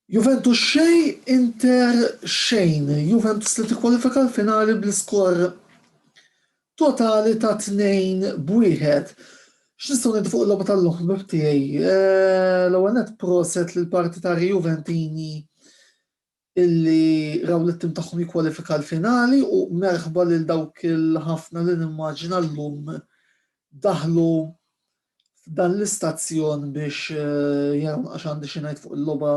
Juventus xej, Inter xejn. Juventus li tikkwalifika l-finali bl-iskor totali ta' 2 b'wieħed. X'nistgħu ngħidu fuq il-logħba tal-lum ħbib tiegħi? Eh, l-ewwel net proset lill-partitari Juventini illi raw lit-tim tagħhom jikkwalifika l-finali u merħba lil dawk il-ħafna li nimmaġina llum daħlu f'dan l-istazzjon biex eh, jaraw għax għandi xi ngħid fuq il-logħba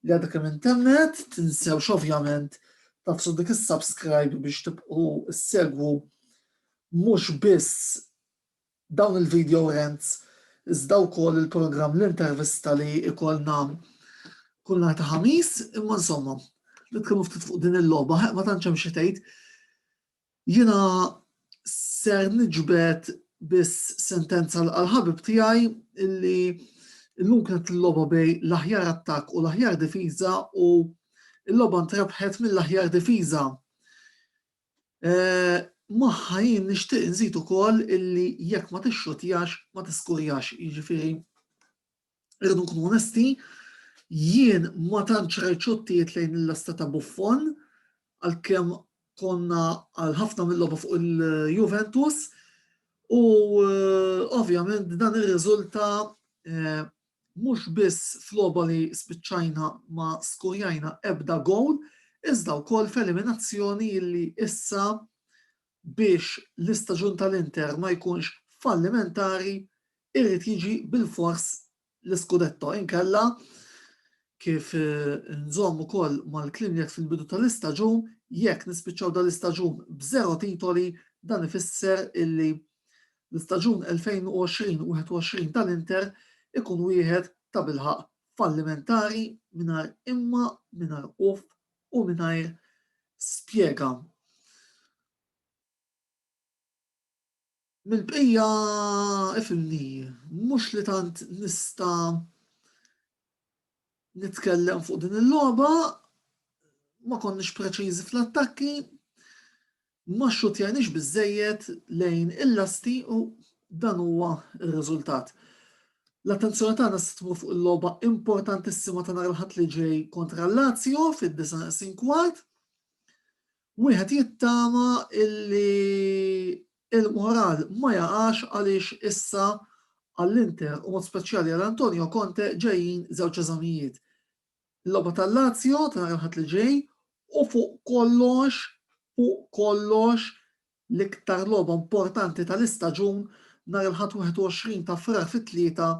li għadha kemm intemmet, tinsewx ovvjament tafsu dik is-subscribe biex tibqgħu segwu mhux biss Dawn il-video rants iżda wkoll il-programm L-Intervista li ikollna kull nhar ta' Ħamis, imma insomma, nitkellmu ftit fuq din il-logħba, ħeq ma tantx hemm xi tgħid. Jiena ser niġbed biss sentenza għal ħabib tiegħi illi illum kienet l-logħba bej l-aħjar attakk u l-aħjar difiża u l-logħba ntrebħet mill-aħjar difiża. Magħha jien nixtieq inżid ukoll illi jekk ma tixxutjax ma tiskurjax, jiġifieri irridu nkunu onesti, jien ma tantx rajt xottijiet lejn il-lesta ta' Buffon għalkemm konna għal ħafna mill-logħba fuq il-Juventus u ovvjament dan irriżulta Mhux biss f'logħba li spiċċajna ma skurjajna ebda gowl iżda wkoll f'eliminazzjoni li issa biex l-istaġun tal-Inter ma jkunx fallimentari irid jiġi bilfors l-iskudetto inkella kif nżomm ukoll mal-kliem li għedt fil-bidu tal-istaġun jekk nispiċċaw dan l-istaġun b'żero titoli dan ifisser illi L-istaġun 2020-21 tal-Inter ikun wieħed tabilħaqq fallimentari mingħajr imma, mingħajr uff u mingħajr spjega. Mill-bqija ifimni, mhux li tant nista' nitkellem fuq din il-logħba, ma konniex preċiżi fl-attakki, ma xxutjajniex biżejjed lejn il-lasti u dan huwa r-riżultat. L-attenzjoni tagħna se tmur fuq il-logħba importantissima ta' nhar il-Ħadd li ġej kontra l-Lazio fid-29 kwart. Wieħed jittama illi Il-moral ma jaqax għaliex issa għall-Inter u b'mod speċjali għal Antonio Conte ġejjin żewġ eżamijiet, il-logħba tal-Lazio ta' nhar il-Ħadd li ġej u fuq kollox, fuq kollox, l-iktar logħba importanti tal-istaġun nhar il-Ħadd 21 ta' Frar fit-tlieta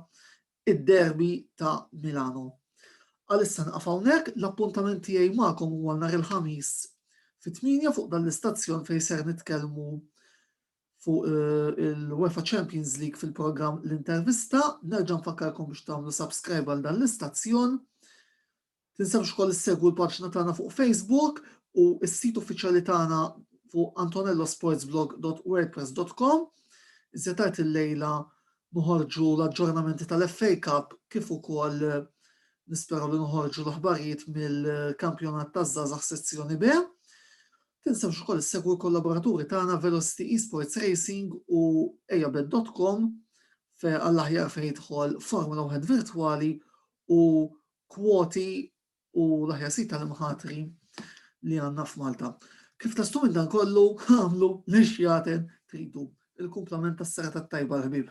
id-derby ta' Milano. Għalissa nieqaf hawnhekk, l-appuntament tiegħi magħkom huwa nhar il-Ħamis fit-tmienja fuq dan l-istazzjon fejn ser nitkellmu fuq eh, il-UEFA Champions League fil-programm l-intervista. Nerġa' nfakkarkom biex tagħmlu subscribe għal dan l-istazzjon. Tinsewx ukoll issegwu l-paġna tagħna fuq Facebook u s-sit uffiċjali tagħna fuq antonellosportsblog.wordpress.com. Iżjed tard illejla noħorġu l-aġġornamenti tal-FA Cup kif ukoll nisperaw li noħorġu l-aħbarijiet mill-kampjonat taż-żgħażagħ sezzjoni B. Tinsewx ukoll issegwu l-kollaboraturi tagħna Velocity Esports Racing u ejabet.com għall-aħjar fejn jidħol Formula 1 virtwali u kwoti u l-aħjar sit tal-imħatri li għandna f'Malta. Kif tastu minn dan kollu għamlu li xjaten tridu. Il-kumplament tas-sera tat-tajba l-ħbib.